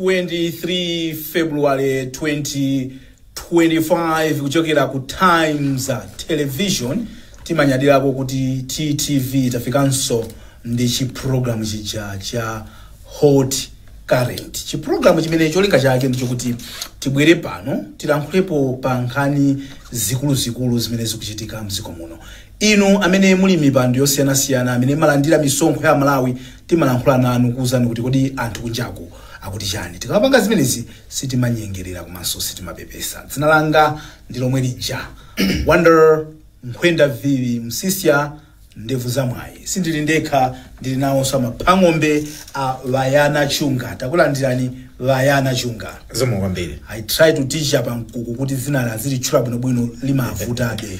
23 February 2025 kuchokera ku Times Television timanyadirako kuti TTV tafikanso ndi chipulogalamu chija cha Hot Current chipulogalamu chimene cholinga chake ndicho kuti tibwere pano tilankhulepo pa nkhani zikuluzikulu zimene zikuchitika mdziko muno Inu amene muli m'mipando yosiyanasiyana, amene mmalandira misonkho ya Amalawi, timalankhula nanu kuuzani kuti kodi anthu kunjaku akuti chani. Tikamapanga zimenezi sitimanyengerera komanso sitimapepesa. Dzina langa ndi lomwe lija, Wonder Nkhwenda Viwi Msisya Ndevu za Mwayi. Sindili ndekha, ndili nawonso amaphang'ombe a Mbayana Chunga. Takulandirani Bayana Chunga. Zikomo kwambiri. I try to teach a Pamkuku kuti dzinali azilitchula bwinobwino limavutabe.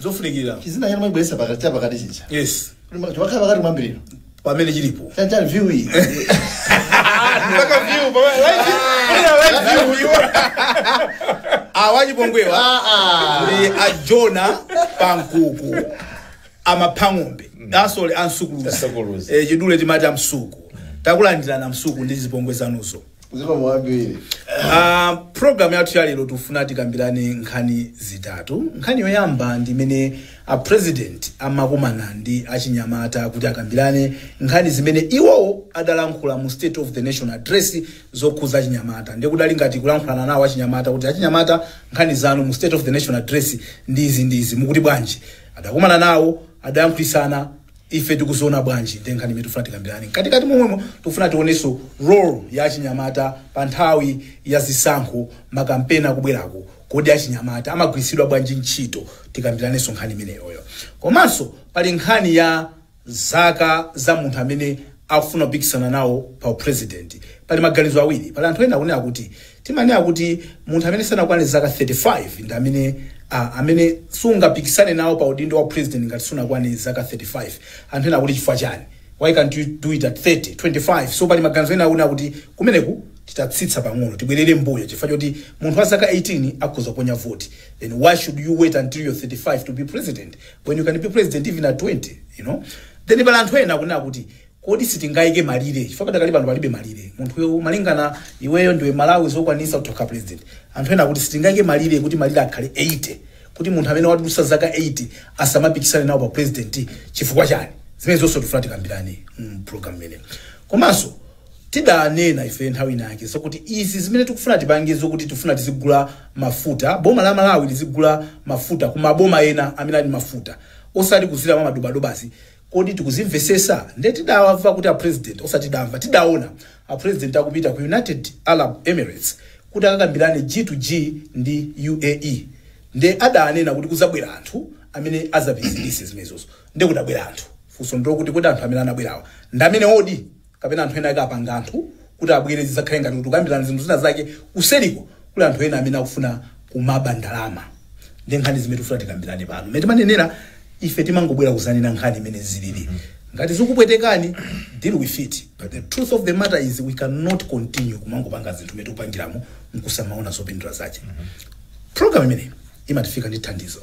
zofunikira chizina chanu mwachibweretsa pakati chapakati chicha yes chimakhala pakati mwambiriro pamene chilipo chanchani view iyi mpaka view baba live kuna live view awachipongwewa Ah, ah. ndi a Jonah Pamkuku amaphang'ombe asole Asukuluza. ansukuluza chidule timati amsuku takulandirana msuku ndi zipongwe zanuzo zikomo kwambiri Uh, program yathu ya lero tifuna tikambirane nkhani zitatu nkhani yoyamba ndi imene a president amakumana ndi achinyamata kuti akambirane nkhani zimene iwowo adalankhula mu state of the nation address zokhudza achinyamata ndiye kudali ngati kulankhulana nawo achinyamata kuti achinyamata nkhani zanu mu state of the nation address ndi izi ndi izi mukuti bwanji adakumana nawo adalankhulitsana Ife tikuziona bwanji nde nkhani imene tifuna tikambilane? Mkatikati momwemo, tikufuna tionenso role ya achinyamata pa nthawi ya zisankho, ma campaign akubwerako. Kodi achinyamata amagwiritsidwa bwanji ntchito? Tikambilanenso nkhani imeneyoyo. Komanso pali nkhani ya zaka za munthu amene akufuna kupikisana nawo pa u president. Pali maganizo awiri. Pali anthu ena akunena kuti. Timanena kuti munthu amene sanakwane zaka 35 ndi amene a, amene sungapikisane nawo pa udindo wa president ngati sunakwane zaka 35. Anthu ena akuti chifukwa chani? Why can't you do it at 30, 25? So pali maganizo ena akunena kuti kumeneku titatsitsa pang'ono tibwerere mbuyo chifukwa choti munthu wa zaka 18 akhoza kuponya voti. Then why should you wait until you're 35 to be president when you can be president even at 20, you know? Then pali anthu ena akunena kuti Kodi sitingaike malire chifukwa padakali pano palibe malire munthuyo malingana iweyo ndiwe Mmalawi zokwanitsa utha kukhala president anthu ena akuti sitingaike malire kuti malire akhale 80 kuti munthu amene wadutsa zaka 80 asamapikisane nawo pa president chifukwa chani zimenezo zonse tifuna tikambirane mm, program imene komanso tidanena ife nthawi inayake zokuti izi zimene tikufuna tipange zokuti tifuna tizigula mafuta boma la Malawi lizigula mafuta ku maboma ena amene ali mafuta osati kudzera mwa madobadobazi Kodi tikuzimvesesa? Nde tidamva kuti a president osati tidamva, tidaona a president akupita ku United Arab Emirates kuti akakambilane G to G ndi UAE nde adanena kuti kuzabwera anthu amene azapititse zimenezozo nde kudabwera anthu. Funso ndilokuti kodi anthu amene anabwerawa ndamenewodi? kapena anthu ena ake akapanga anthu kuti abwere zidzakhale ngati kuti kukambirana zinthu zina zake kuseliko kuli anthu ena amene akufuna kumaba ndalama nde nkhani zimene tufuna tikambirane pano mmene timanenera ife timangobwera kuzanena nkhani mmene zilili ngati zikupwetekani deal with it but the truth of the matter is we cannot continue kumangopanga zinthu mmene tikupangiramo nkusamaona zopindula zake program imeneyi imatifika ndi thandizo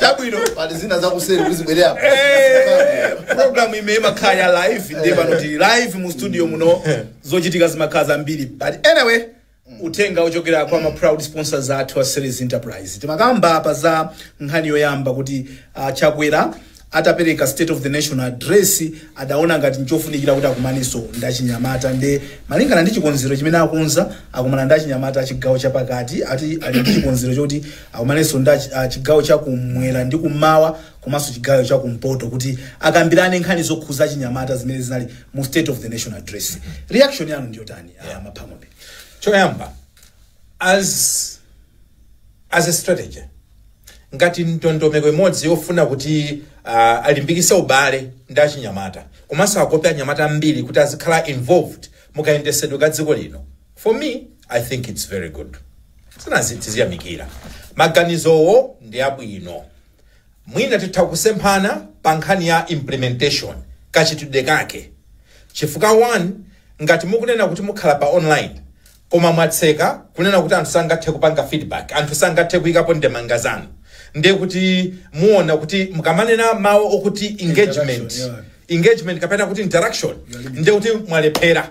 Chabwino. pali zina zakuseri kuzibwerera apa programu imeneyi imakhala ya live nde pano tili live mu studio muno zochitika zimakhala zambiri but anyway uthenga wochokera kwa ma proud sponsors athu a series enterprise timakamba apa za nkhani yoyamba kuti uh, chakwera Atapereka State of the Nation Address adaona ngati n'chofunikira kuti akumanenso ndi achinyamata nde malingana ndi chikonzero chimene akonza akumana ndi achinyamata a chigawo cha pakati ati ali ndi chikonzero choti akumanenso ndi achi- a chigawo cha kum'mwera ndi kum'mawa komanso chigawo cha kumpoto kuti akambirane nkhani zokhuza achinyamata zimene zinali mu State of the Nation Address. Reaction yanu ndi yotani? Yeah. Maphamombe. choyamba as as a strategy ngati ndondomeko imodzi yofuna kuti uh, alimbikise ubale ndi achinyamata komanso akope anyamata ambiri kuti azikhala involved mukayendesedwe ka dziko lino for me i think its very good zinazi tiziyamikira maganizowo ndi abwino mwina titha kusemphana pa nkhani ya implementation kachitidwe kake chifukwa 1 ngati mukunena kuti mukhala pa online koma mwatseka kunena kuti anthu sangathe kupanga feedback, anthu sangathe kuyikapo ndemanga zanu ndiye kuti muwona kuti mukamanena mawu okuti engagement, engagement kapena kuti interaction ndiye kuti mwalephera.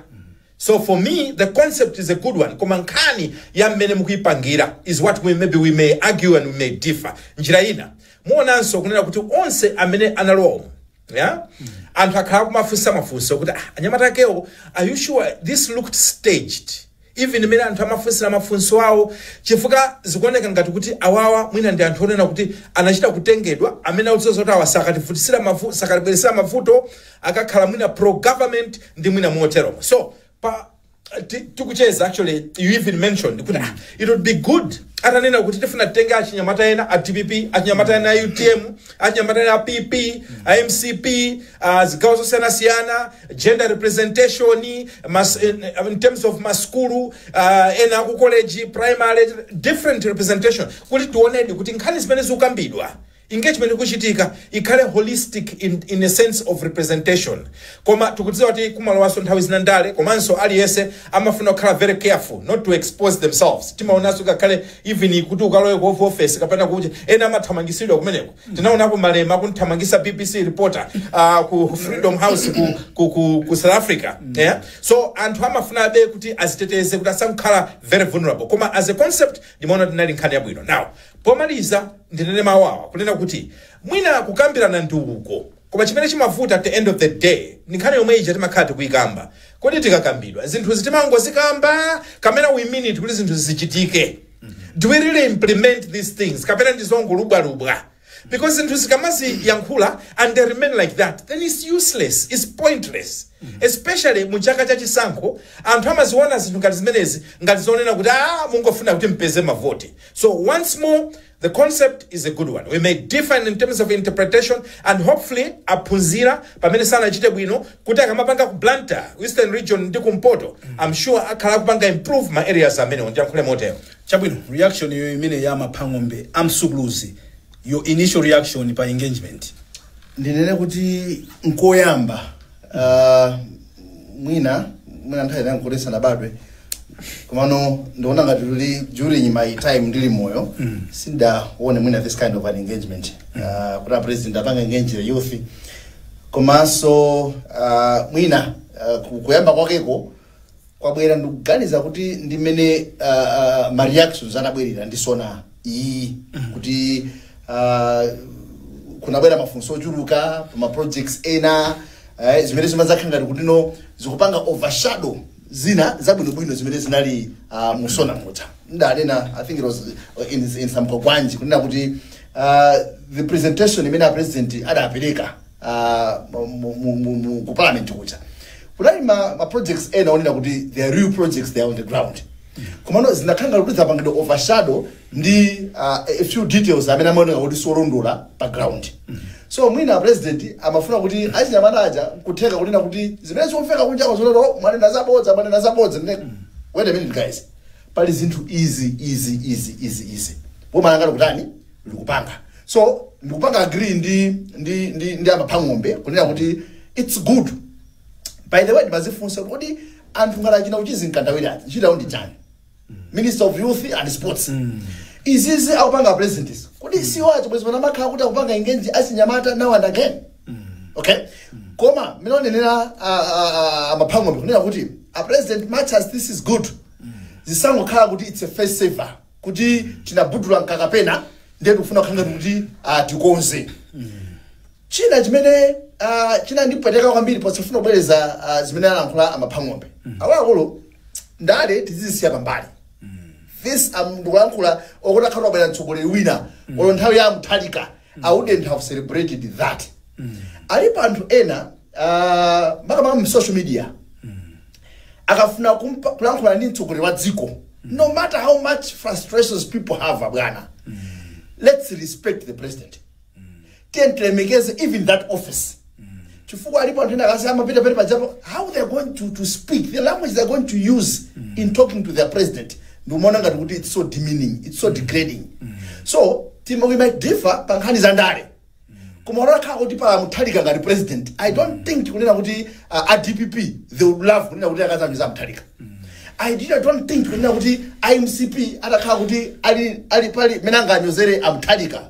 So for me the concept is a good one koma nkhani ya mmene mukuyipangira is what we maybe we may argue and we may differ. Njira ina muwonanso kunena kuti onse amene analowa umu, ya anthu akhala kumafunsa mafunso kuti ah, anyamata akewo are you sure this looked staged even mmene anthu amafunsira mafunso awo chifukwa zikuoneka ngati kuti awawa mwina ndi anthu onena kuti anachita kutengedwa amene akudziwa zoti awa sakativutisira mavu- sakatibweresera mavuto akakhala mwina pro government nde mwina moteromo so pa ti- tikucheza actually you even mentioned kuti ah, it would be good atanena kuti tifuna titenge achinyamata ena a dpp achinyamata ena a utm achinyamata ena a pp a mcp a zigawo zosiyanasiyana gender representation mas, in, in terms of maskulu uh, ena aku college primary different representation kuti tionedi kuti nkhani zimene zikukambidwa engagement ikuchitika ikhale holistic in in a sense of representation koma tikudziwa kuti kumalowanso nthawi zina ndale komanso aliyense amafuna kukhala very careful not to expose themselves timaonanso ngakhale even kuti ukalowe ku Oval office kapena kuja ena amathamangisidwa kumeneko tinaonapo malema akunthamangisa bbc reporter uh, ku freedom house ku, ku, ku, ku south africa yeah? so anthu amafunabe kuti aziteteze kuti asakhale very vulnerable koma as a concept ndimaona tinali nkhani yabwino now pomaliza ndinene mawu awa kunena kuti mwina kukambirana ndiko koma chimene chimavuta at the end of the day ndi nkhani yomwe ija timakhala tikuyikamba kodi zikakambidwa zinthuzi timangozikamba kapena we mean it kuti zinthu zichitike do we really implement these things kapena ndi zongolubwalubwa because zinthu zikamaziyankhula and they remain like that then it's useless it's pointless especially mu chaka cha chisankho anthu amaziona zinthu ngati zimenezi ngati zonena kuti ah mungofuna kuti mpeze mavoti So once more the concept is a good one. We may differ in terms of interpretation and hopefully aphunzira pamene sanachite bwino kuti akamapanga ku Blantyre, Eastern Region ndi kumpoto. I'm sure akhala akupanga improve ma areas amenewo ndiyankhule motero. chabwino reaction yo imene ya a Maphang'ombe amsukuluzi your initial reaction pa engagement ndinene kuti nkoyamba Ah, mwina mwina nthawi inayo nkuti tisanabadwe komano ndiona ngati kuti during my time ndili moyo sindaone mwina this kind of an engagement Ah, kuti apresident apanga engage the youth komanso ah, mwina ah, ku- kuyamba kwakeko kwabwera ndikuganiza kuti ndi mmene uh, uh, ma reactions anabwerera ndi sona iyi kuti uh, kunabwera mafunso ochuluka pa ma projects ena eh, zimene zimadzakhala ngati kuti no zikupanga overshadow zina zabwinobwino zimene zinali uh, mu sona muja ndanena i think it was uh, in, in some kogwanji kunena kuti uh, the presentation imene a president adapereka uh, mu- mu- mu- mu- ku parliament kuja kunali ma, ma projects ena onena kuti they are real projects they are on the ground komano zinakhanga kuti zapangidwa overshadow ndi uh, a few details amene amaoneka kuti siolondola pa ground so mwina a president amafuna kuti achinyamata aja kutheka kunena kuti zimene zomveka kunjako zonena "Oh, mwanena zabodza mwanena zabodza Ndiye, wait a minute guys pali zinthu izi izi izi izi izi mumalo mwangati kutani ndikupanga so ndikupanga agree ndi ndi ndi, ndi a Maphang'ombe kunena kuti it's good by the way ndimazifunsa kuti kodi anthu ngati achina Uchizi Mkandawire aja ntchito yawo ndi chani minister of youth and sports izizi akupanga president izi kodi siwoachita bwezi pano amakhala kuti akupanga engage achinyamata now and again okay koma mmene anenera a Maphang'ombe kunena kuti a president much as this is good zisangokhala kuti it's a face saver kuti tinabudula mwakapena ndiye tikufuna kukhala ngati kuti ah, tikonze china chimene ah, chinandipweteka kwambiri posafuna kubwereza ah, zimene alankhula amaphang'ombe akuluakulu ndale tizizisiya pambali this I'm ndikulankhula okuti akhala anabwera mtsogoleri wina olo nthawi ya muthalika I wouldn't have celebrated that. Alipo anthu ena uh, makamaka mu social media akafuna kumpa- kulankhula ndi mtsogoleri wa dziko no matter how much frustrations people have abwana let's respect the president tiyeni tilemekeze even that office chifukwa alipo anthu ena akati amapita pene pajapo how they are going to, to speak the language they are going to use in talking to their president ndikumaona ngati kuti it's so demeaning it's so degrading so tima we might differ pa nkhani za ndale koma kunakhala kuti pa muthalika ngati president i don't think kunena kuti uh, a dpp they would love kunena kuti akaziwanyoza a muthalika i did i don't think kunena kuti a mcp atakhala kuti ali ali pali mene anganyozere amuthalika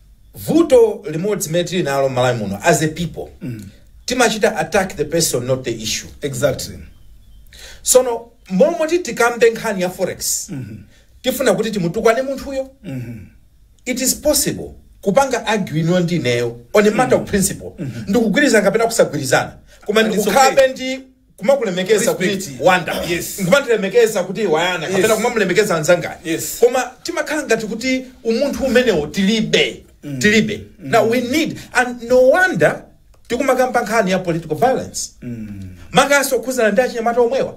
vuto limodzi limene tili nalo mmalawi muno as a people timachita attack the person not the issue exactly sono mmalo moti tikambe nkhani ya forex tifuna kuti timutukwane munthuyo it is possible kupanga argue inuyo ndi ineyo on a matter of principle ndikugwirizana kapena kusagwirizana koma And it's ndikukhalabe ndi kumakulemekeza kuti Respect. wanda Yes. nkumakulemekeza kuti wayana kapena Yes. kumamulemekeza anzanga Yes. koma timakhala ngati kuti umunthu umenewo tilibe tilibe now we need and no wonder tikumakamba nkhani ya political violence makanso okhuzana ndi achinyamata omwewa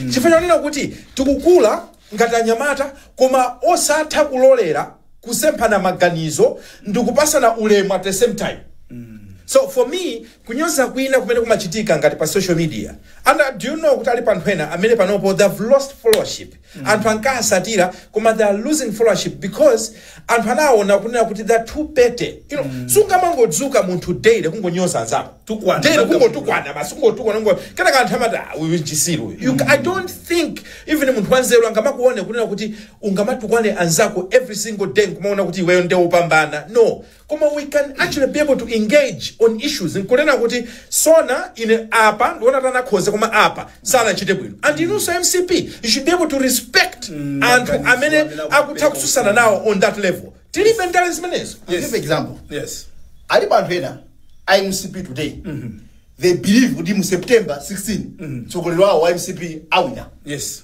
chifukwa chonena kuti tikukula ngati anyamata koma osatha kulolera kusemphana maganizo ndikupasana ulemu at the same time so for me kunyoza kwina kumene kumachitika ngati pa social media and uh, do you know kuti alipo anthu ena amene panopo they have lost followership anthu ankawasatira koma they are losing followership because anthu anaona kunena kuti they're too petty you know sungamangodzuka munthu daily kungonyoza anzako Tukwana, daily banga kungotukwana basi kungotukwana kungo kenako anthu amati "Ah, uyu nchisiru uyu." you i don't think even munthu wanzeru angamakuone kunena kuti ungamatukwane anzako every single day nkumaona kuti iweyo nde upambana no Koma we can actually be able to engage on issues nkunena kuti Zoona ine apa ndikuona kuti anakhoza koma apa sanachite bwino and inunso a mcp you should be able to respect anthu maganizo amene amene akutha akupereka kutsutsana nawo on that level tilibe ndale zimenezo I'll give example yes alipo anthu ena a mcp today they believe kuti mu september 16 mtsogoleri wawo wa mcp awina yes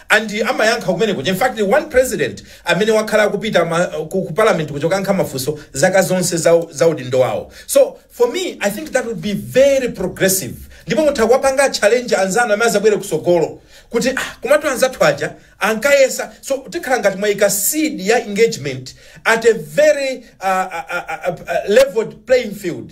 And amayankha kumene kuja. In fact one president amene wakhala akupita ma, ku, ku parliament kuja kukayankha mafunso zaka zonse za, za udindo wawo. So for me I think that would be very progressive. Ndipo mutha kuwapanga challenge anzanu amene azabwere kusogolo kuti ah, komatu anzathu aja ankayesa. So tikhala ngati mwaika seed ya engagement at a very uh, uh, uh, uh, leveled playing field.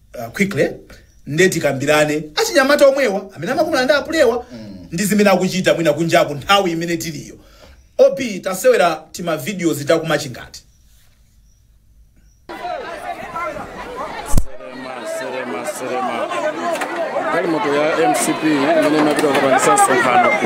uh, quickly nde tikambirane achinyamata omwewa amene amakumana ndi apulewa ndi zimene akuchita mwina kunjaku nthawi imene tiliyo op tasewera tima videos takumachingati nselema nselema galimoto ya mcp imene imapita kukapangisa msonkhano ku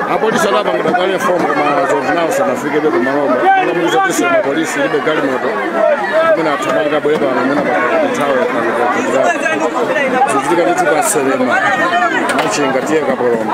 apolisi adapangidwa kale inform koma so far nawo sanafikebe pamalopa akamuuza kuti mapolisi ilibe galimoto imene athamanga abwere pano imene pakathawe zikuchitika ndithu pa nselema machinga ta kapoloma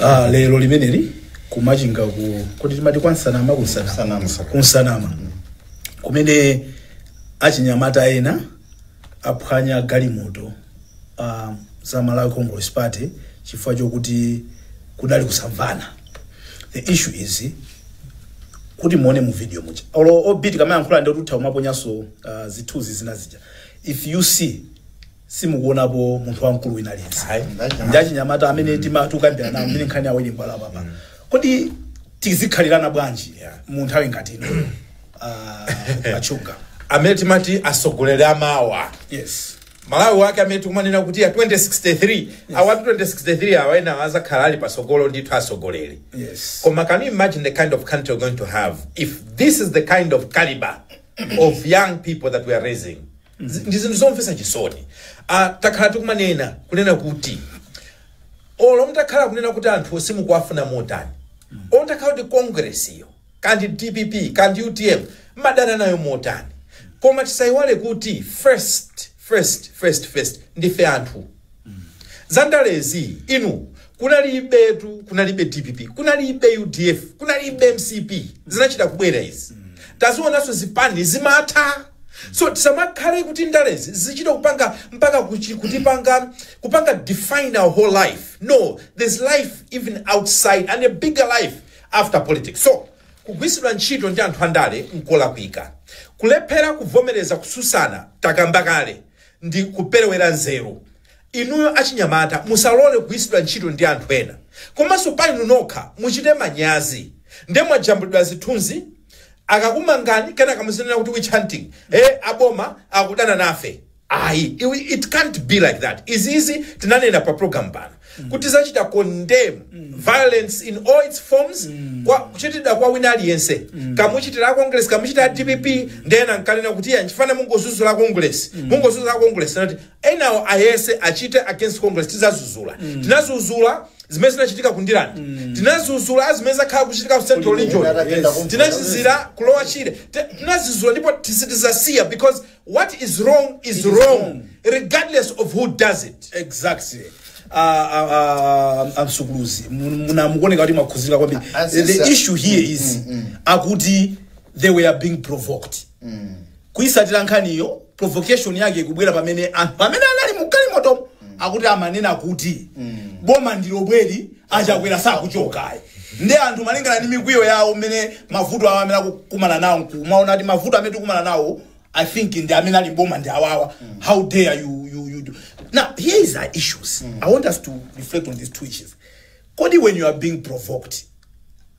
ah, lero limeneli kumachinga ku kodi timati kwansanama kunsanama Sanama. kunsanama kumene achinyamata ena aphwanya galimoto ah, za malawi congress party chifukwa chokuti kudali kusamvana the issue is kuti muone mu video muja olo op tikamayankhula ndi kuti utha kumaponyaso uh, zithunzi zina zija if you see simukuonapo munthu wamkulu wina aliyense Ayi, ndachinyamata. ndi achinyamata amene timakambiranawo amene nkhani yawo ili mbala papa kodi tizikhalirana bwanji Yeah. mu nthawi ngati ino Ah, achunga amene timati asogoleri amawa yes malawi wake amene tikumanena kuti ya 2063 awatu 2063 awa ena azakhala ali pasogolo ndithu asogoleri yes koma can you imagine the kind of country we're going to have if this is the kind of caliber of young people that we are raising Nzi- ndi zinthu zomvetsa chisoni ah, takhala tikumanena kunena kuti olo mutakhala kunena kuti anthu simukuwafuna motani olo mutakhala kuti kongresiyo kandi dpp kandi utm mmadana nayo motani koma tisayiwale kuti first first first first ndife anthu zandalezi inu kunalibetu kunalibe dpp kunalibe udf kunalibe mcp zinachita kubwera izi tazionanso zipani zimatha so tisamakhale kuti ndalezi zichita kupanga mpaka kuchi- kutipanga kupanga define our whole life no there's life even outside and a bigger life after politics so kugwiritsidwa ntchito ndi anthu andale nkolakwika kulephera kuvomereza kususana takamba kale ndi kuperewera nzeru. Inuyo achinyamata musalole kugwiritsidwa ntchito ndi anthu ena komanso pa inu nokha muchite manyazi nde mwajambulidwa zithunzi akakumangani kenaka muzinena kuti witch hunting eh aboma akudana nafe ayi iwi it can't be like that izi tinanena pa program pano. kuti tizachita condemn violence in all its forms kwa kuchitidwa kwa wina aliyense kaya muchitira a congress kaya muchitira a dpp nde ena nkumanena kuti iya nchifani mungozuzula congress mungozuzula congress nnati enawo ayese achite against congress tizazuzula tinazuzula zimene zinachitika ku Ndirande tinazuzula zimene zakhala kuchitika ku central region Yes. tinazuzula ku Lower Shire Te- tinazuzula ndipo sitizasiya because what is wrong is wrong. regardless of who does it exactly Ah, ah, ah, amsukuluzi Mun- muna mukuoneka kuti mwakhuzika kwambiri Ah, ah, the sisa- issue here is akuti they were being provoked kuisatira nkhaniyo provocation yake ikubwera pamene anthu amene anali mugalimoto akuti amanena kuti boma ndi lomweli a Chakwera sakuchokayi nde anthu malingana ndi mikwiyo yawo mmene mavuto awo amene akukumana nawo nkumaona kuti mavuto amene tikumana nawo i think ndi amene ali m'boma ndi awawa how dare you, you, you do. now here is our issues i want us to reflect on these two issues kodi when you are being provoked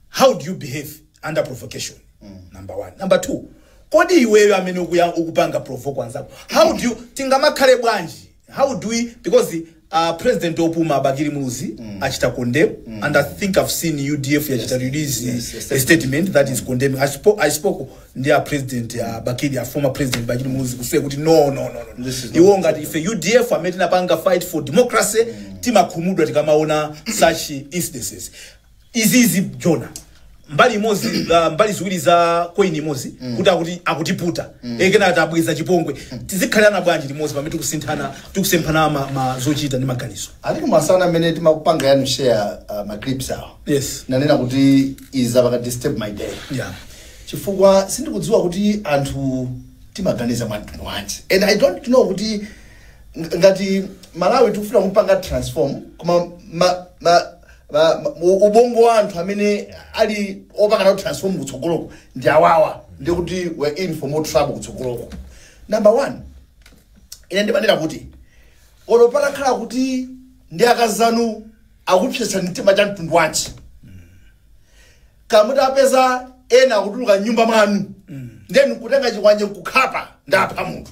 how do you behave under provocation number one number two kodi iweyo amene ukuya- ukupanga provoke anzako how do you tingamakhale bwanji how do we because uh, president opuma a Bakili Muluzi achita condemn and i think i've seen udf yachita release yes, yes, a statement that is condemning i spoke, I spoke ndi a president uh, Bakili a former president Bakili Muluzi to say kuti no no no, no. This is iwo ngati ife udf amene tinapanga fight for democracy timakhumudwa tikamaona such incidences izizi jona mbali imodzi uh, mbali ziwiri za coin imodzi mm. kuti akuti akutiputa mm. enanso akuti abweza chipongwe tizikhalirana bwanji limodzi pamene tikusinthana tikusemphana ma, ma zochita ndi maganizo alipo masana amene tinakupangirani share uh, ma clips awo yes nnanena kuti izi zapanga disturb my day yeah chifukwa sindikudziwa kuti anthu timaganiza mwa mtundu wanji and i don't know kuti ng- ngati malawi tikufuna kupanga transform koma ma, ma, ma, ma, u- ubongo wa anthu amene ali opanga nawo transform kutsogoloko ndi awawa ndi kuti we're in for more trouble kutsogoloko number one ine ndimanena kuti olo patakhala kuti ndi akazanu akupsetsani mtima cha mtundu wanji kaya muti mwapeza ena akutuluka mnyumba mwanu then nkutenga chikwanje nkukhapa nkupha munthu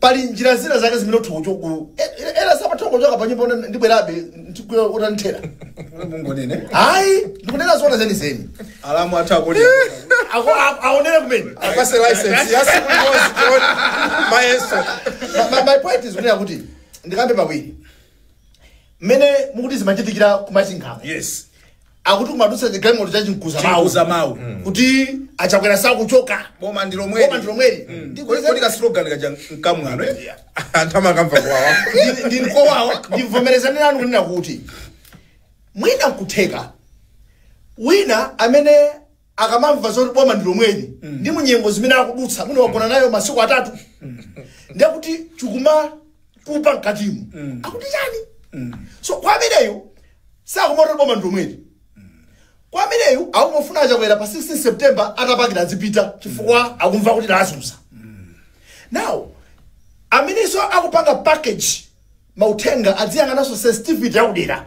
pali njira zina zake zimene utha kuchokulu ena samatha kuchoka pa nyumba una- ndibwerabe ndikuyautanthera mungonene ayi ndikunena zoona zenizeni alamu athu akuli Ako- a- aonere kumene apase license yasiku limodzi tione mayeso Ma- ma- my point is kunena kuti ndikambe pawiri mmene mukuti zimachitikira ku Machinga yes akuti kumadutsa chigalimoto cha chimkuza mawu Chimkuza mawu. kuti achakwera sakuchoka boma ndi lomweli Boma ndi lomweli. Ndi kodi kodi ka slogan kaja mkamwamo eh? anthu amakamva kuwawa Ndi- ndi mkowawa ndivomerezane nanu kunena kuti mwina nkutheka wina amene akamamva zoti boma ndi lomweli ndi nyengo zimene akudutsa mwina wagona nayo masiku atatu ndiye kuti chikumatupa mkatimu akuti chani so kwa ameneyo sakumati boma ndi lomweli kwa ameneyu akungofuna achakwera pa 16 september adzapakira azipita chifukwa akumva kuti lawazunza now amenenso akupanga package mauthenga adziyang'ananso sensitivity yakudera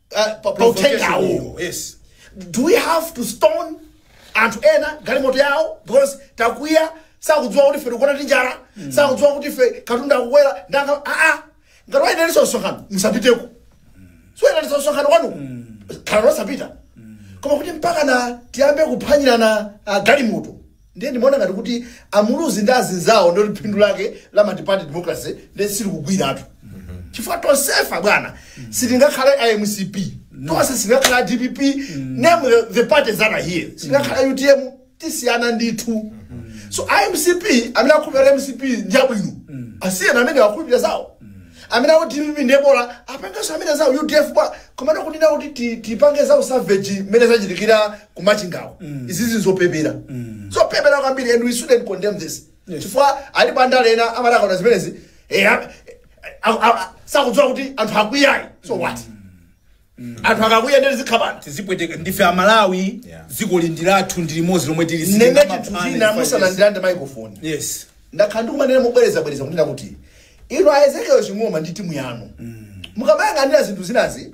ya ya uthenga uwu yes do we have to stone anthu ena galimoto yawo because takwiya sakudziwa kuti ife tikugona ndi njala sakudziwa kuti ife katundu akukwera ndalama aa ngati walengezanso msonkhano musapiteko siwayeneranso msonkhano kwanu khala losapita koma kuti mpaka na tiyambe kuphwanyirana ah, galimoto Ndiye ndimaona ngati kuti a Muluzi ndi azinzawo ndi phindu lake la multiparty democracy ndiye silikugwiratu. Chifukwa tonsefa bwana sitingakhale a MCP. Tonse sitingakhale a DPP. Name the, the parties that are here. Sitingakhale UTM tisiyana ndithu. So a MCP amene akhulupirira MCP ndi abwino. Asiyeni amene akhulupirira zawo. amene akuti dpp ndiye bola apangenso amene zawo udf bwana komano kunena kuti ti- tipange zawo savage mmene zachitikira ku machingawo izizi nzopepera zopepera kwambiri and we should condemn this Yes. chifukwa alipo andale ena amati akaona zimenezi eh, a- a- a- a- sakudziwa kuti anthu akwiyayi so what anthu akakwiya nde tizikhapana tizipweteka ndife amalawi Yeah. dziko ili ndi lathu ndi limodzi lomwe tili nalo sitinga chinthu maphani china pa musanandirande microphone yes. yes ndakhala ndikumanena mobwerezabwereza kunena kuti inu a ezekiel ching'oma ndi timu yanu mukamayang'anira zinthu zinazi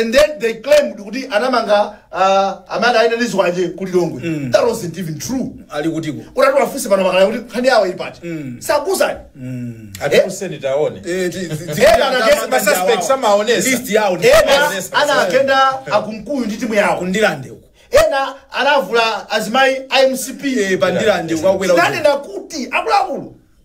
and then they claimed kuti anamanga uh, amene anayenda ndi zikwanje ku lilongwe mm. that wasn't even true ali kutiko mutati wafunse pano a Kalaya kuti nkhani yawo ili pati mm. sakuuzani mm. atiuze taone masuspects amaonetsa list yawo ndi- ena anagenda akumkuyu ndi timu yawo ku Ndirande uko ena anavula azimayi a mcp Eh, pa Ndirande uko akwera uko. tinanena kuti akuluakulu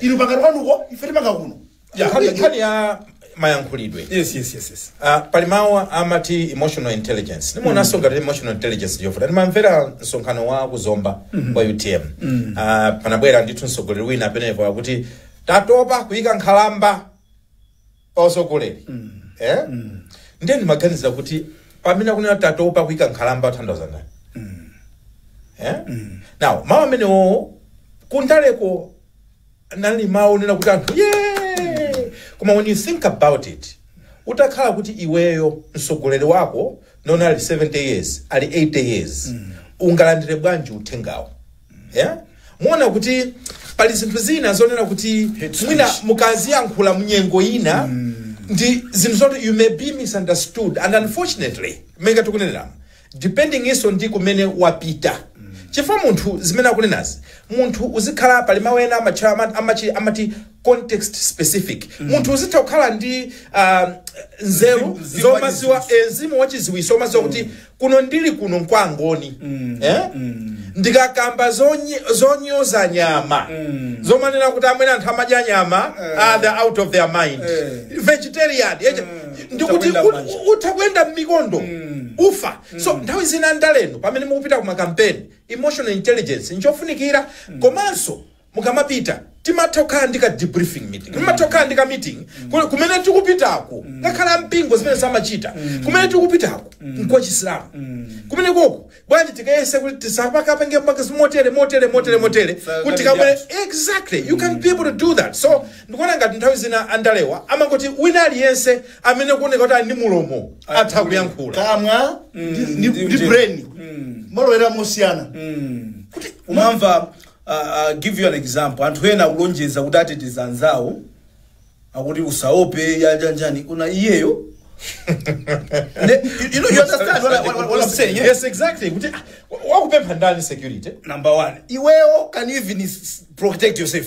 inu pangani kwanuko ife tipanga kuno Ya, Nkhani- nkhani- nkhani ya mayankhulidwe yes yes yes yes Ah, pali mawu amati emotional intelligence ndimuonanso ngati emotional intelligence ndiyofunika ndimamvera msonkhano wa kuzomba wa utm Ah, panabwera ndithu mtsogoleri wina amenepo akuti tatopa kuyika nkhalamba pa usogoleri eh? ndiye ndimaganizira kuti pamene akunena tatopa kuika nkhalamba athandauza ndani eh? now mawu amenewo kundaleko nali mawu onena kuti anthu ye koma when you think about it utakhala kuti iweyo msogoleri wako nona ali 70 years ali 80 years ungalandire bwanji uthengawo yeah? muona kuti pali zinthu zina zonena kuti Hate mwina speech. mukaziyankhula mnyengo ina ndi zinthu zoti you may be misunderstood and unfortunately monga tikunenera depending iso ndi kumene wapita chifukwa munthu zimene akunenazi munthu uzikhala pali mawu ena amatchula ama- amachi- amati context specific munthu uzitha kukhala ndi um, nzeru Mzimu- mzimu zomaziwa wachiziwiso. eh, mzimu wachiziwiso omaziwa kuti kuno ndili kuno nkwangoni eh? ndikakamba zonye- zonyoza nyama zomanena kuti amene anthu amadya nyama they're out of their mind Eh. vegetarian eh, ndikuti Utakwenda u- manja. u- utha kuyenda mmikondo ufa so nthawi zina ndaleno pamene mukupita ku makampeni emotional intelligence nchofunikira komanso mukamapita timatha kukhala ndi ka debriefing meeting timatha kukhala ndi ka meeting ku- kumene tikupitako ngakhale ampingo zimene samachita kumene tikupitako nkwa chisilamu kumenekoko bwanji tikayese kuti tisakapange mpaka motere motere motere motere Sa- kuti tikamwe judge. exactly you can be able to do that so ndikuona ngati nthawi zina andalewa amangoti wina aliyense amene akuoneka kuti ali ndi mulomo atha kuyankhula kamwa ndi- ndi ndi ndi- brain malowera mosiyana kuti umamva I'll give you an example, anthu ena akulonjeza kuti ateteza anzawo akuti usaope yajanjani kuna iyeyo Ne- you, you know, you understand what, I, what, what, what I'm saying yeah? yes exactly kuti ah, wakupempha ndani security number one iweyo can you even s- protect yourself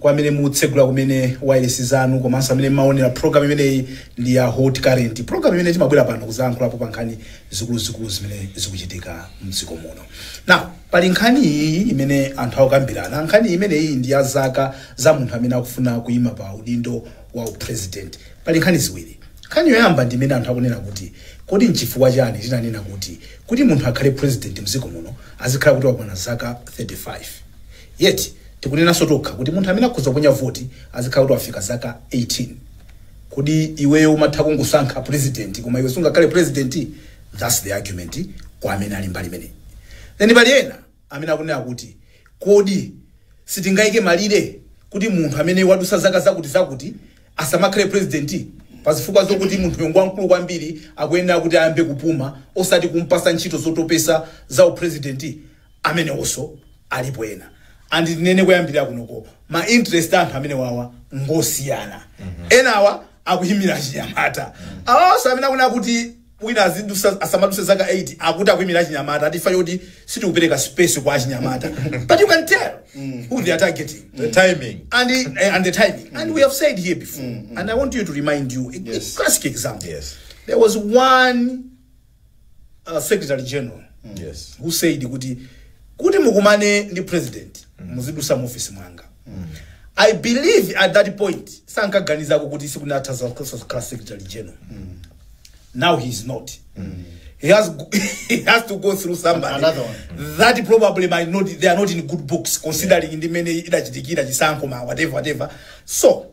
kwa amene mutsegula kumene wireless zanu komanso amene mmaonera program imeneyi ndi ya hot current program imene timabwera pano kuzayankhulapo pa nkhani zikuluzikulu zimene zikuchitika mdziko muno now pali nkhani iyi imene anthu akukambirana nkhani imeneyi ndi ya zaka za munthu amene akufuna kuyima pa udindo wa upresident pali nkhani ziwiri nkhani yoyamba ndi imene anthu akunena kuti kodi nchifukwa chani tinanena kuti kuti munthu akhale president mdziko muno azikhala kuti wakwana zaka 35 Yet tikunenanso tokha kuti munthu amene akhoza kuponya voti azikhala kuti wafika zaka 18. Kodi iweyo umatha kungosankha president koma iwe sungakhale president? Thats the argument kwa amene ali mbali imeneyi. Then pali ena amene akunena kuti kodi sitingaike malire kuti munthu amene wadutsa zaka zakuti zakuti asamakhale president pa zifukwa zokuti munthuyo ngwamkulu kwambiri akuyenera kuti ayambe kupuma osati kumpatsa ntchito zotopetsa za u president. amenewoso alipo ena and tinene koyambirira kunoko ma interest a anthu amenewawa ngosiyana enawa akuyimira achinyamata awawaso amene akuna kuti wina azidusa asamaduse zaka 80 akuti akuyimira achinyamata ati mfundo yoti sitikupereka space kwa achinyamata but you can tell who they are targeting The timing. and the, uh, and the timing. And we have said here before, and I want you to remind you a, a classic example. Yes. There was one uh, secretary general Yes. who said kuti kuti mukumane ndi president muzidusa mu office mwanga i believe at that point sankaganizako kuti tsiku lina sazakhala secretary general now he is not he has go- he has to go through somebody Another one. that probably might not they are not in good books considering ndi mene idachitikira chisankho cha ma whatever whatever so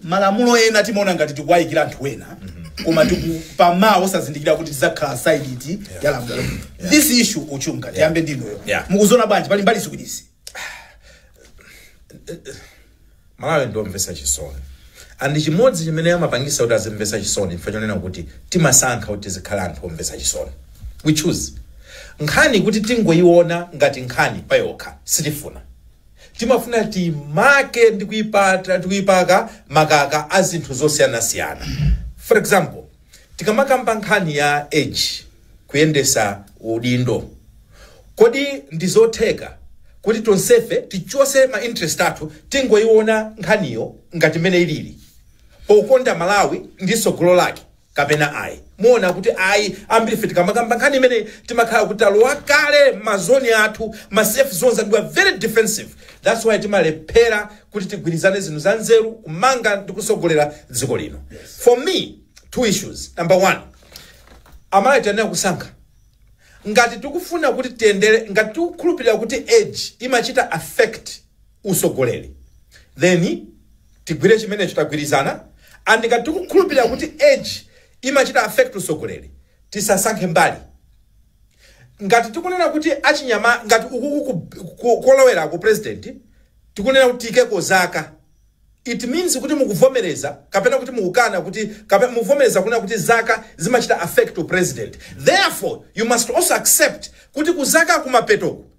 malamulo ena timaona ngati tikuwayikira anthu ena koma tiku pamawa osazindikira kuti tizakhala side iti ya lamulo this issue uchunga tiyambe ndinuyo Yeah. mukuziona bwanji pali mbali ziwirizi malawi ndiomvesa chisoni and chimodzi chimene amapangisa kuti azimvesa chisoni chifukwa chonena kuti timasankha kuti tizikhala anthu omvesa chisoni we choose nkhani kuti tingoyiona ngati nkhani payokha sitifuna Timafuna tiimake ndi kuipaka makaka a zinthu zosiyanasiyana. For example, tikamakamba nkhani ya age, kuyendesa udindo, kodi ndi zotheka kuti tonsefe tichose ma interest athu tingoiona nkhaniyo ngati mmene ilili, pokonda Malawi ndi tsogolo lake? kapena ayi. Muona kuti ayi. Ambirife tikamakamba nkhani imeneyi timakhala kuti talowa kale mma zone athu, ma safe zones and we are very defensive that's why timalephera kuti tigwirizane zinthu za nzeru kumanga ndi kusogolera dziko lino. For me two issues, number one amalawi tiyenera kusankha ngati tikufuna kuti tiyendere, ngati tikukhulupirira kuti age imachita affect, usogoleri then tigwire chimenecho tagwirizana and ngati tikukhulupirira kuti age imachita affect usogoleri tisasankhe mbali ngati tikunena kuti achinyama ngati kolowera ku president tikunena kuti tiikeko zaka it means kuti mukuvomereza kapena kuti mukukana kuti kapena mukuvomereza kunena kuti zaka zimachita affect u president therefore you must also accept kuti kuzaka kumapetoko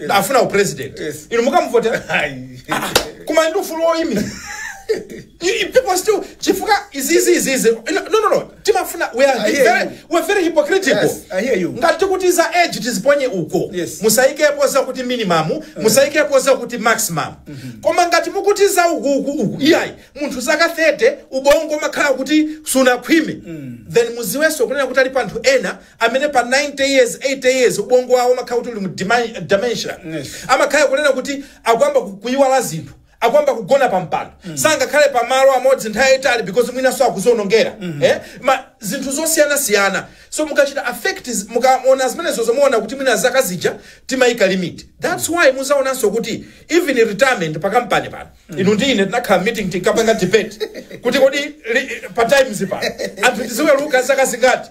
Yes. afuna upresident Yes. inu mumuvotera Ayi. koma ndi ufulu woyimira You- you people still chifukwa izizi izizi no no no timafuna we are I hear very, you. we are very hypocritical Yes, I hear you. ngati kuti za age tiziponye uko Yes. musayikepo za kuti minimum musayikepo za kuti maximum koma ngati mukuti za uku uku uku iyayi munthu zaka 30 ubongo umakhala kuti sunakhwime then muziwenso kunena kuti alipo anthu ena amene pa 90 years 80 years ubongo wawo umakhala kuti uli mu dementia amakhala kunena kuti akuyamba kuyiwala zinthu akuyamba kugona pa mpando mm. sangakhale pa malo amodzi nthawi yayitali because mwinanso akuzionongera mm -hmm. eh? ma zinthu zosiyanasiyana so mukachita a fact mukaona zimenezo mumaona kuti mwina zaka zija timayika limit that's why muzaonanso kuti even retirement pa kampani pano mm. inu ndi ine tinakhala meeting tinkapanga debate kuti kodi pa times pano anthu tiziweruka zaka zingati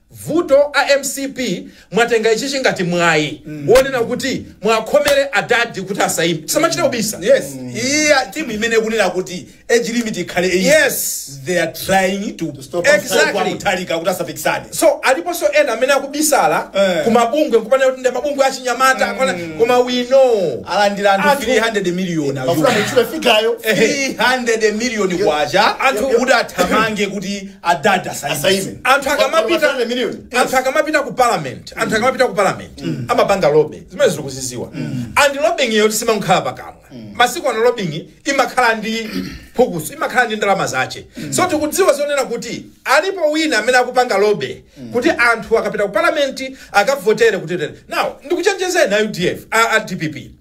Vuto a MCP mwatenga ichichi ngati mwayi wonena kuti muwakhomere adadi kuti asayime. Tisamachite kubisa. Yes, iyi a- team imene ikunena kuti age limit ikhale 80. Yes. They are trying to stop us Exactly. Mutharika kuti asapikisane. So aliponso ena amene akubisala Eh. ku mabungwe nkumanena kuti ndi mabungwe achinyamata akwana koma we know. Alandira anthu Anthu- 300 million a Amafuna muchule figayo. 300 million kwacha Anthu- kuti athamange kuti adadi asaime Asaime. anthu Koma akamapita masana million. anthu akamapita ku parliament anthu akamapita ku parliament amapanga lobby zimene tikuziziwa and lobbying iyo simakhala pakamwa masiku ano lobbying imakhala ndi phukuso imakhala ndi ndalama zache so tikudziwa zonena kuti alipo wina amene akupanga lobby kuti anthu akapita ku parliament akavotere kuti now ndikuchenjezeni a UDF a, a DPP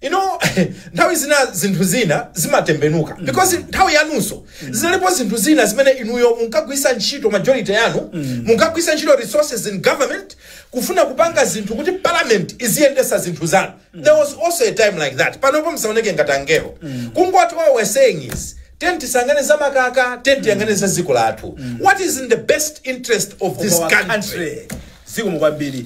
you know nthawi zina zinthu zina zimatembenuka because nthawi yanunso zinalipo zinthu zina zimene inuyo munkagwisa ntchito majority yanu munkagwisa ntchito resources in government kufuna kupanga zinthu kuti parliament iziyendesa zinthu zanu there was also a time like that panopo msaoneke ngati angelo kungoti what we're saying is tiyeni tisayang'ane za makaka tiyeni tiyang'ane za dziko lathu what is in the best interest of this Our country zikomo kwambiri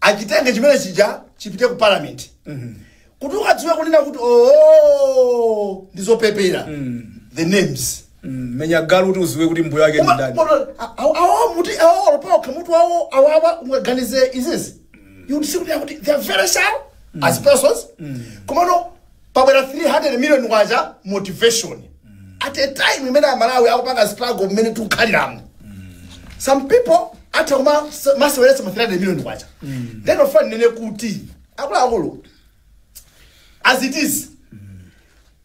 achitenge chimene chija chipite ku parliament kuti ukadziwe kunena kuti oo ndizopepera the names Mm, menya galu kuti uziwe kuti mbuye wake ndi ndani awo muti awo olongosoka mutu wawo awawa ungaganize izizi you would see kuti akuti they are very sharp as persons komano pabwera 300 million kwacha motivation at a time imene amalawi akupanga struggle mmene tikukhaliramo some people atha kumaseweretsa ma 300 million kwacha then ofunika inene kuti akuluakulu as it is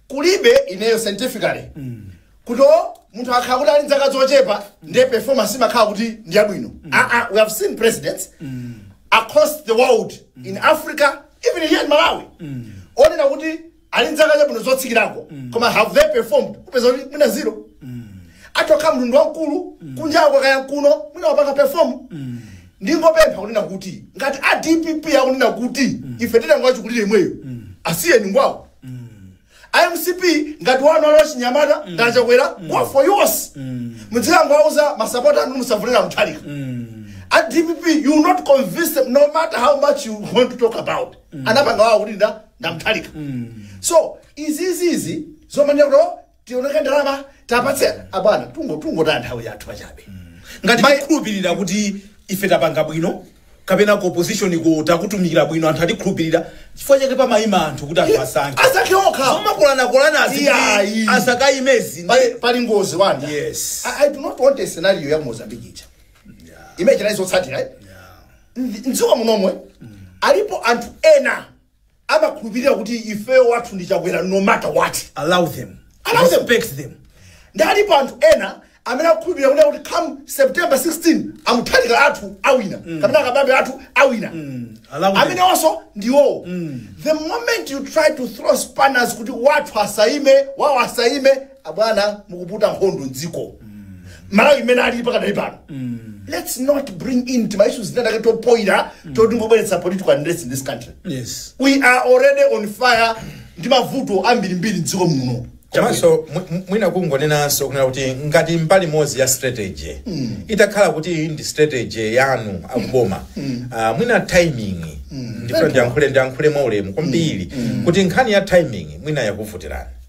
kulibe ineyo scientifically kuti munthu akhala kuti ali ndi zaka zochepa ndiye performance imakhala kuti ndi yabwino Ah, ah, we have seen presidents across the world in africa even here in malawi onena kuti ali ndi zaka zabwino zotsikirako koma have they performed upeza kuti mwina zero atokha munthu wamkulu kunjako kaya kuno mwina wapanga perform ndingopempha kunena kuti ngati a dpp akunena kuti ife titenga wachikulire imweyo asiyeni ngwawo A mcp ngati wanu ali wachinyamata ngati chakwera go for yours mudzikangowauza masapota anu musavotere muthalika a dpp you will not convince them no matter how much you want to talk about anapanga wawo kuti ndi ndi muthalika so izizizi zomanena kuti "Oh, tionetse ndalama tapatse abwana tungo tungotaya nthawi yathu pachabe ngati mai- tikhulupirira kuti ife tapanga bwino kapena ku opposition-ko takutumikira bwino anthu atikhulupirira chifukwa chake pamayima anthu kuti anthu asankhe asankhe okha zomakolanakolanazi Iyayi. asakayimezi pali pali ngozi wanda Yes. I, i do not want a scenario ya ku mozambique ija imene chinali zotsatira eh? Ndi- mdziko munomwe alipo anthu ena amakhulupirira kuti ifeyo wathu ndi chakwera no matter what allow them Allow them. respect them ndi alipo anthu ena amene akukhulupirira kuti come september 16 amuthalika athu awina kapena akabambe athu awina allow them. amenewonso ndi awowo the moment you try to throw spanners kuti wathu asaime wawo asaime abwana mukuputa nkhondo mdziko malawi mmene alili pakadali pano let's not bring in tima issues tinatake topoira totingobweretsera political unrest in this country yes we are already on fire ndi mavuto ambirimbiri mdziko muno komanso mwi- mwi- mwina kungonenanso kunena kuti ngati mbali imodzi ya strategy itakhala kuti iyi ndi strategy yanu akuboma ah, mwina timing ndifuna ndiyankhule ndiyankhule mwaulemu kwambiri kuti nkhani ya timing mwina yakuvutirani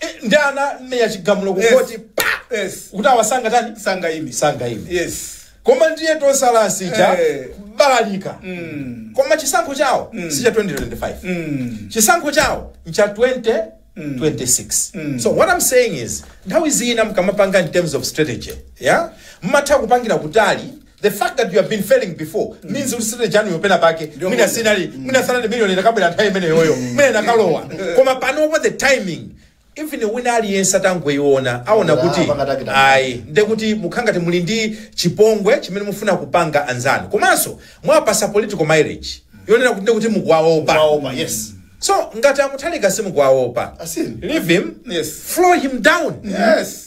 Eh, nde anamenya chigamulo Yes. kukoti pa Yes. kuti awa sangatani Sangaime. sangaime Yes. koma ndiye atotsala aja Eh. balalika Mm. koma chisankho chawo Mm. si cha 2025 Mm. chisankho chawo ncha 2026 Mm. so what i'm saying is nthawi zina mkamapanga in terms of strategy yeah mmatha kupangira kutali The fact that you have been failing before means kuti strategy yanuyo pena pake Ndio mwina moja. sinali mwina sanali million ikanabwera nthawi imeneyoyo mwina ikanalowa koma panopo the timing even wina aliyense atangoiona aona Ah, kuti pakatakita. ayi nde kuti mukhala ngati muli ndi chipongwe chimene mufuna kupanga anzanu komanso mwapasa political mileage yonena kuti nde kuti mukuwaopa Waopa, yes. so ngati amuthalika simukuwaopa Asiyeni. leave him Yes. floor him down Yes.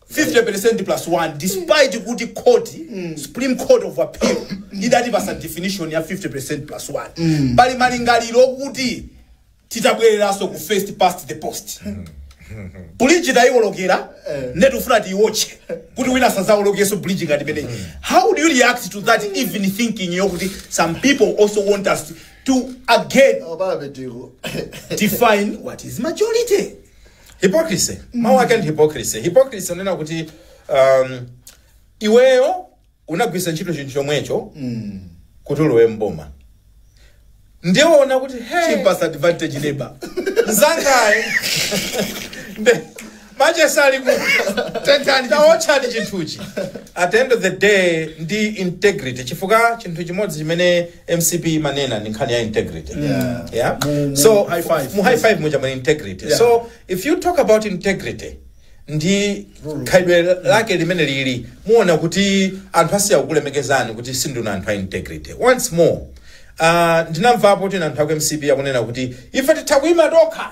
50% plus 1 despite kuti court supreme court of appeal idatipasa definition ya 50% plus 1 pali malingaliro okuti titabwereranso ku first past the post bridge tayiwolokera nde tufuna tiyiwotche kuti wina asazawolokenso bridge ngati imeneyi how do you react to that even thinking yokuti some people also want us to again define what is majority hypocrisy mawu ake ndi hypocrisy hypocrisy kunena kuti um, iweyo unagwitsa ntchito chinthu chomwecho kuti ulowe mboma ndiye waona kuti hey, chipatsa advantage labwino. mzangaye Nde- machesa ali kuti tentani. taotchani chinthuchi at the end of the day ndi integrity chifukwa chinthu chimodzi chimene mcp imanena ndi nkhani ya integrity Yeah. yeah Mu- mu so high five. mu high five muja muli integrity Yeah. so if you talk about integrity ndi khalidwe lake limene lili muona kuti anthu asiya kukulemekezani kuti sindinu anthu a integrity once more uh, ndinamvapo kuti anthu aku mcp akunena kuti ife titha kuima tokha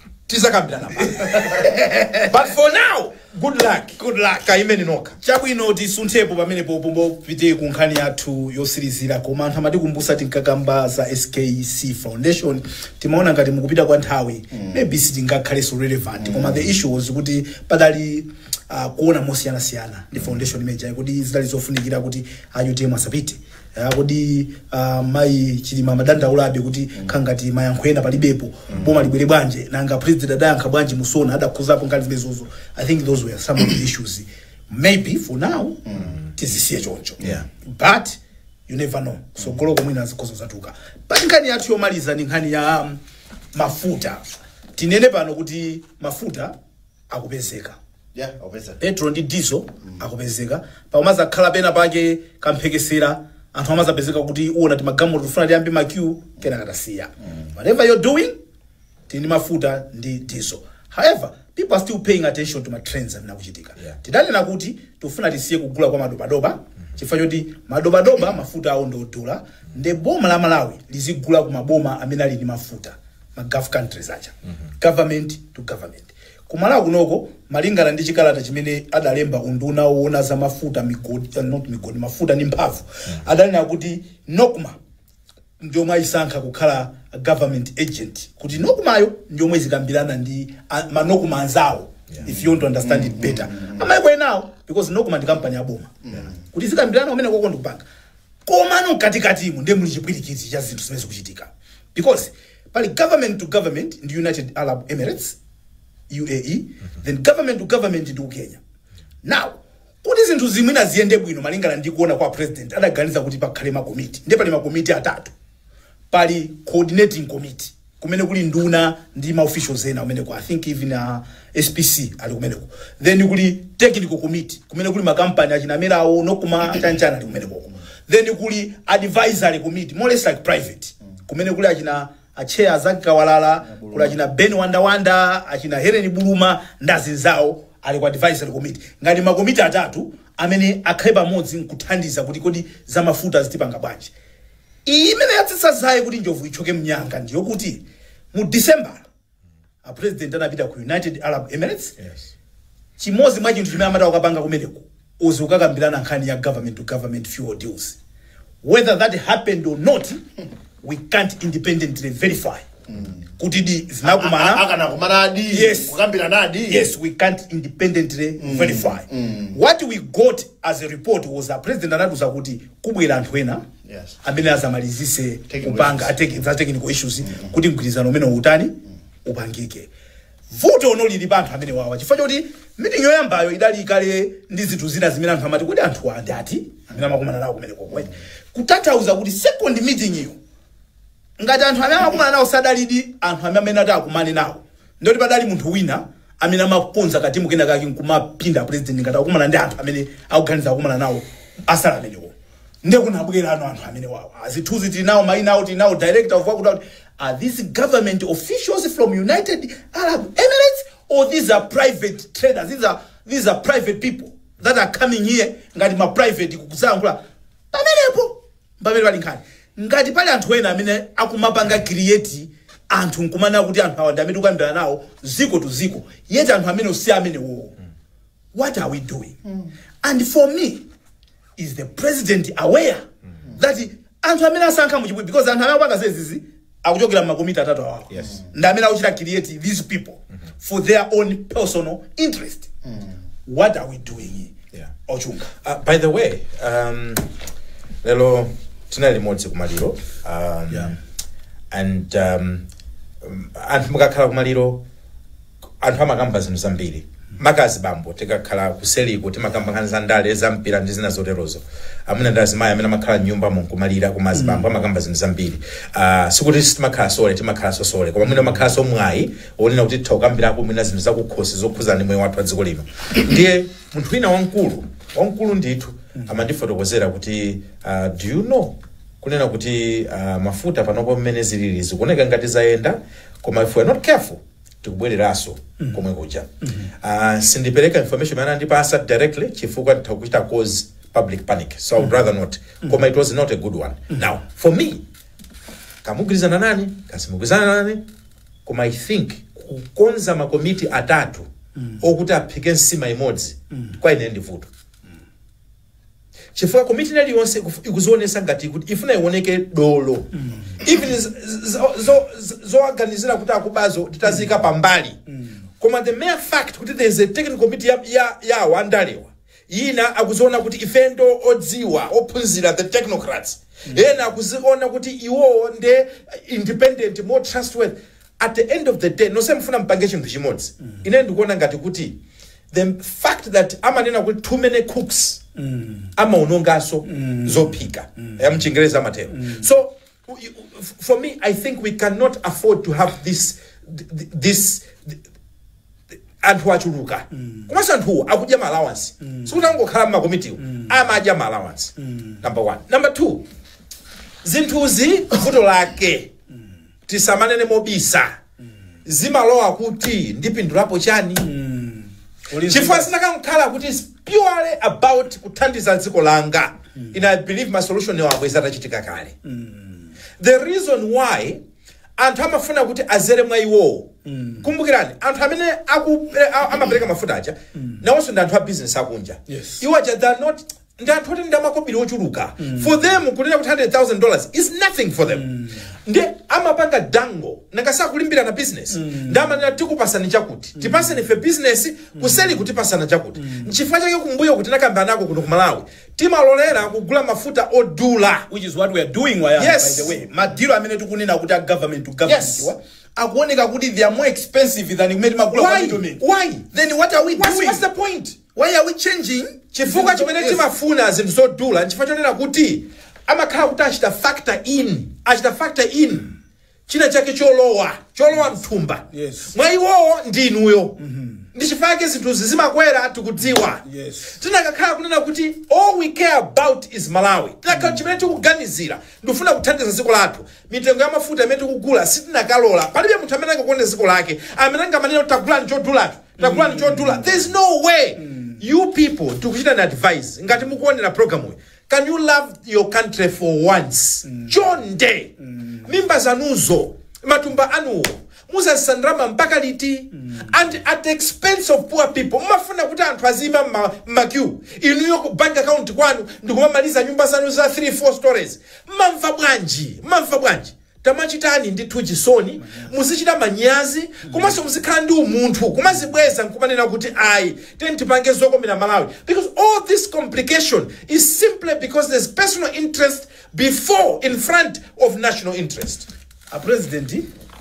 tizakambirana but for now good luck good luck kaimeni nokha chabwino tisunthepo pamenepo tipite ku nkhani yathu yotsirizira koma anthu amatikumbusa tinkakamba za skc foundation timaona ngati mkupita kwa nthawi mm. maybe sitingakhalenso relevant mm. koma the issue was kuti padali uh, kuona mosiyanasiyana ndi foundation imejayi kodi zidali zofunikira kuti utm asapite Ah, kodi ah, mayi chilima amadandaulabe kuti kukhangati mayankho ena palibepo boma libwere poyera nanga president adayankha bwanji mu sona adakhudzapo nkhani zimenezozo i think those were some of the issues maybe for now tizisiye choncho Yeah. but you never know tsogoloko mwina zikhoza kuzatuluka but nkhani yathu yomaliza ni nkhani ya um, mafuta tinene pano kuti mafuta akupezeka Yeah, obveza. petrol ndi diesel akupezeka pakumazakhala pena pake kamphekesera anthu amazapezeka kuti uona ngati magalimoto akufuna ayambe ma queue kenaka tasiya whatever you're doing tili ndi mafuta ndi diesel however people are still paying attention to matrends amene akuchitika Yeah. tidanena kuti tifuna tisiye kugula kwa madobadoba chifukwa choti madobadoba mafuta awo ndi odula nde boma la malawi lizigula ku maboma amene ali ndi mafuta ma gulf countries aja government to government kumalawi kunoko malingana ndi chikalata chimene adalemba unduna woona za mafuta migodi eh, not migodi mafuta ndi mphamvu adanena kuti nocma ndiyomwe ayisankha kukhala government agent kuti nocmayo ndiyomwe izikambirana ndi a- manocma anzawo if you want to understand it better amayiko enawo because nocma ndi kampani yaboma kuti izikambirana kumeneko ndikupanga Komano mkatikatimu ndiye muli chipwirikiti cha zinthu zimene zikuchitika because pali government to government ndi United Arab Emirates UAE then government to government ndi Kenya. Now kuti zinthu zimenezi ziyende bwino malingana ndi kuona kwa president adaganiza kuti pakhale makomiti ndiye pali makomiti atatu pali coordinating committee kumene kuli nduna ndi ma officials ena kumeneko i think even uh, spc ali kumeneko then kuli technical committee kumene kuli makampani achina amenewo NOCMA chanichani ali kumeneko then kuli advisory committee more or less like private kumene kuli achina a chair a Zaki Kawalala kuli achina ben wandawanda achina helen buluma ndi anzawo ali ku advisory committee ngati makomiti atatu amene akhale pamodzi nkuthandiza kuti kodi zamafuta tizipanga bwanji Iyi imene yatsitsa zaye kuti njovu ithyoke mnyanga ndi yokuti mu December a president anapita ku United Arab Emirates Yes. chimodzi mwa chinthu chimene amati akapange kumeneko is kukakambirana nkhani ya government to government fuel deals whether that happened or not we can't independently verify kuti di A- anakumana anakakumanadi Yes. kukambiranadi yes we can't independently verify what we got as a report was a president anatiuza kuti kubwera anthu ena Yes. amene azamalizise Technical kupanga issues. ateki- za technical issues kuti mgwirizano umenewu utani upangike vuto no lili pa anthu amenewawa chifukwa choti meeting yoyambayo idali kale ndi zinthu zina zimene anthu amati kodi anthu ndi ati amene amakumana nawo kumeneko kutathauza kuti second meeting iyo Ngati anthu amene amakumana nawo sadalidi anthu amene amati akumane nawo, ndiye kuti padali munthu wina amene amakonza katimu kena kake nkumapinda president ngati akukumana ndi anthu amene akuganiza kukumana nawo asali amenewo. Ndiye kunabwerano anthu amenewawa. Zithunzi tili nawo maina awo tili nawo director of wakuti wakuti. Are these government officials from United Arab Emirates or these are private traders? These are, these are private people that are coming here ngati ma private kuzayankhula pamenepo. Mpamene pali nkhani. Ngati pali anthu ena amene akumapanga create anthu nkumanena kuti anthu awa ndi amene tikukambirana nawo ziko to ziko, yet anthu amenewo si amenewo. What are we doing? And for me, is the president aware that anthu amene asankha muchipwi because anthu amene akupanga zizizi akuchokera m'makomiti atatu awawa Yes. ndi amene akuchita create these people for their own personal interest what are we doing Yeah. ochunga Uh, by the way, um, lelo tinali limodzi kumaliro um, Yeah. and um, um, anthu mukakhala kumaliro anthu amakamba zinthu zambiri maka azibambo tikakhala kuseliko timakamba nkhani za ndale za mpira ndi zina zoterozo amuna ndi azimayi amene amakhala mnyumba munkumalira koma azibambo amakamba zinthu zambiri uh, sikuti timakhala sole timakhala sosole koma mwina amakhala ndi mwayi onena kuti titha kukambirako mwina zinthu zakukhosi zokhudzana ndi moyo wathu wa dziko lino ndiye munthu wina wamkulu wamkulu ndithu amandifotokozera kuti uh, do you know kunena kuti uh, mafuta panopo mmene zilili zikuoneka ngati zayenda koma if we are not careful tikubwereranso komwe kuja Ah, sindipereka information imene andipasa directly chifukwa nditha kuchita cause public panic so i would rather not koma it was not a good one now for me kamugwirizana nani kasimugwirizana nani koma i think kukonza makomiti atatu okuti aphike nsima imodzi kwa ine ndi vuto chifukwa komiti ina iliyonse ikufu- ikuzionesa ngati kuti ifuna ioneke dolo even z- z- zo- z- zowaganizira kuti akubazo titaziika pambali koma the mere fact kuti there is a technical committee ya- ya- ya andalewa ena akuziona kuti ife ndo odziwa ophunzira the technocrats ena akuziona kuti iwowo nde independent more trustworthy at the end of the day nonse mufuna mpange chinthu chimodzi ine ndikuona ngati kuti the fact that amanena kuti too many cooks amaononganso zophika ya mchingereza amatero so u- u- f- for me i think we cannot afford to have this th- this anthu achuluka komanso anthuwo akudya ma allowance sikuti angokhala mmakomitiwo amadya ma allowance number one number two zinthuzi vuto lake tisamanene mobisa zimalowa kuti ndipindulapo chani chifukwa zinakakhala kuti it's purely about kuthandiza dziko langa and i believe ma solution awo bwenzi atachitika kale the reason why anthu amafuna kuti azere mwa iwowo kumbukirani anthu amene aku- eh, a- amapereka mafuta aja nawonso ndi anthu a business akunja Yes. iwo aja they are not ndi anthu oti ndi amakobiri ochuluka for them kunena kuti 100000 dollars is nothing for them ndi amapanga dangle nanga si akulimbirana business ndi amanena tikupasani chakuti tipaseni ife business kuseli kupatsana chakuti nchifukwa chake kumbuyo kuti nakamba nako kuno ku malawi timalolera kugula mafuta odula which is what we are doing Yes. by the way madilo amene tikunena kuti a government to government Yes. wa akuoneka kuti they are more expensive than mmene timagula kwa why middlemen why then what are we what's, doing what's the point Why are we changing Chifukwa zinthu chimene zomwe yes. timafuna zinthu zodula nchifukwa chonena kuti amakhala kuti achita factor in achita factor in china chake cholowa cholowa mthumba Yes. mwa iwowo ndi inuyo ndi chifukwa chake zinthuzi zimakwera tikudziwa Yes. tinakakhala kunena kuti all we care about is malawi tinakhala chimene tikuganizira ndikufuna kuthandiza dziko lathu mitengo ya mafuta imene tikugula sitinakalola palibe munthu amene angakonde dziko lake amene angamanena kuti tagulani chodulacho tagulani chodula there is no way you people tikukuchitani advise ngati mukuonera programuyi can you love your country for once chonde mimba zanuzo matumba anuwo muzazisanjama mpaka liti and at the expense of poor people mumafuna kuti anthu aziyima mma- mmaqueue inuyo ku bank account kwanu ndikumamaliza nyumba zanu za 3 4 storeys mamva bwanji mamva bwanji Tamachitani ndithu chisoni, muzichita manyazi komanso muzikhala ndi umunthu kumazibweza nkumanena kuti ayi tiyeni tipange zokomera Malawi because all this complication is simply because there's personal interest before in front of national interest. A president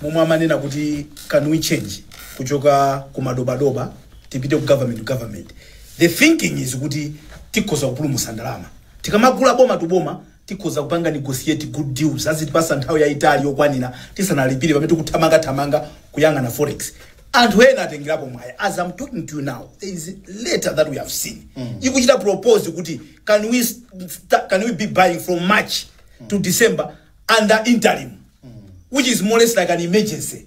momwe amanena kuti can we change kuchoka ku madobadoba tipite ku government to government, the thinking is kuti tikhoza kupulumutsa ndalama tikamagula boma to boma Tikhoza kupanga negotiate good deals, azitipatsa nthawi yaitali yokwanira tisanalipire pamene tikuthamanga thamanga kuyang'ana forex. Anthu ena atengerapo mwayi, as am talking to you now, there is a letter that we have seen ikuchita propose kuti can we, sta- can we be buying from March to December under interim, which is more or less like an emergency.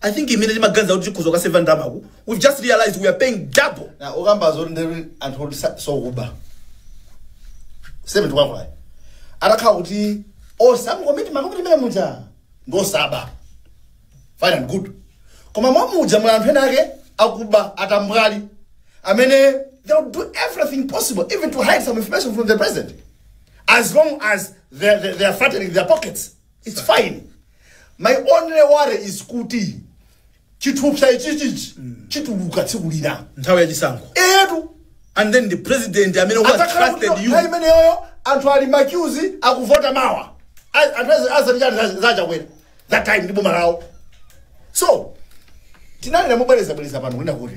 I think imene timaganiza kuti tikhoza kukaseva ndalamaku we just realized we are paying double na okamba zoti ndi anthu oti sa- osakuba seme tikwakwayi atakhala kuti some committee makomiti mene muja ndi osaba fine and good koma mmenemuja muli anthu ena ake akuba atambwali amene they will do everything possible even to hide some information from the president as long as they, they, they are fattening their pockets it's fine my only worry is kuti chithupsa ichichichi chituluka tsiku lina nthawi ya chisankho etu and then the president amene who has atakhala kuti trusted you nthawi imeneyoyo anthu ali maqueues akuvota mawa A- anthu azi- azatichani za- zachakwera that time ndi boma lawo so tinabwera mobwerezabwereza pano kwina kuti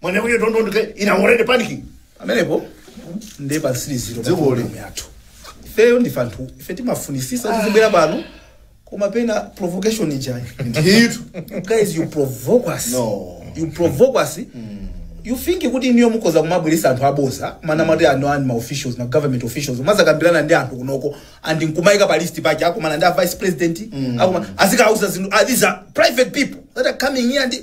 When you don't want to get in a already panicking. pamenepo ndiye pansiriziro problem yathu ifeyo ndife anthu ife timafunisisa tizibwera pano koma pena provocation ijayi Ndithu. You guys you provoke us No. you provoke us you think kuti inuyo mukhoza kumabweresa anthu aboza mumanamati ano ani ma officials ma government officials mazakambirana ndi anthu kunoko and nkumayika pa list pake akumana ndi a vice president akuma azikauza zinthu ah, these are private people that are coming here and